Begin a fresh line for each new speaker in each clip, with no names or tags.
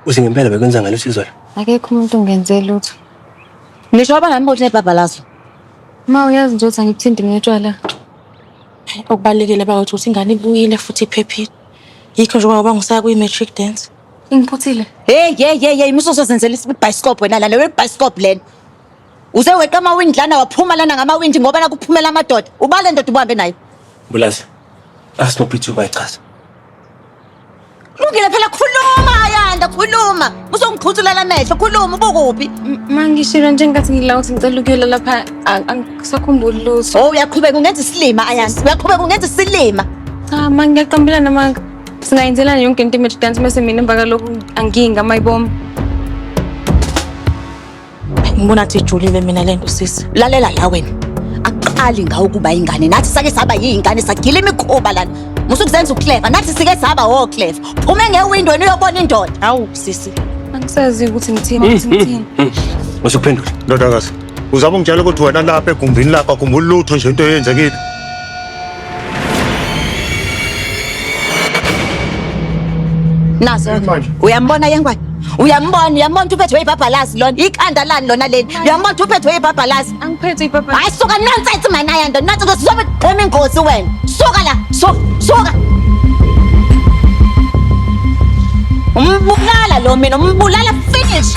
Uthi ngempela bekwenza ngalo sizwe. Akekho umuntu ungenze
lutho. Ngisho
abangani bothi nebhabhalazo. Ma
uyazi nje ukuthi angikuthindi ngetshwala.
Okubalekile bakwethu ukuthi ingane ibuyile futhi iphephile. Yikho nje ngoba ngisaya kwi matric dance. Ingiphuthile.
Hey hey hey hey
musoso zenzela isibhayisikop wena lana we bicycop lena. Uze weqa ama wind lana waphuma lana ngama wind ngoba nakuphumela amadoda. Ubale ndoda ubuhambe naye. Mbulazi.
Asinophithuka ichaza. Lungile
phela khuluma Ayanda khuluma. Usongiqhutshulela amehlo khuluma ubukuphi? Mangishilo nje
ngathi ngila ukuthi ngicela ukuyela lapha a- angisakhumbuli lutho. Oh uyaqhubeka ungenza
isilima Ayanda. Uyaqhubeka ungenza isilima. Cha ma
ngiyaqambelana ma singayenzelana yonke into image dance mase mina emva kalokhu anginga mayiboma.
Ngibona athi ijulile mina lento sisi. Lalela la wena.
Aqali ngawo ukuba ingane. Nathi sake saba yingane sagila imikhuba lana. Musu kuzenza uclever. Nathi sike saba wo clever. Phuma ngewindow uyobona indoda. Hawu sisi. Angisazi ukuthi
ngithini ukuthi
ngithini. Musu kuphendula.
Ndodakazi.
Uzaba ungitshela ukuthi wena lapha egumbini lakho akumbulutho nje into eyenzekile.
nazo uyambona yengwane uyambona uyambona ukuthi uphethwe ibhabhalazi lona ikhanda lani lona leli uyambona ukuthi uphethwe ibhabhalazi angiphethe
ibhabhalazi hayi suka
nonsense mana yanda nathi ukuthi uzobe qhoma ingozi wena suka la suka suka umbulala lo mina umbulala finish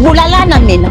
bulalana mina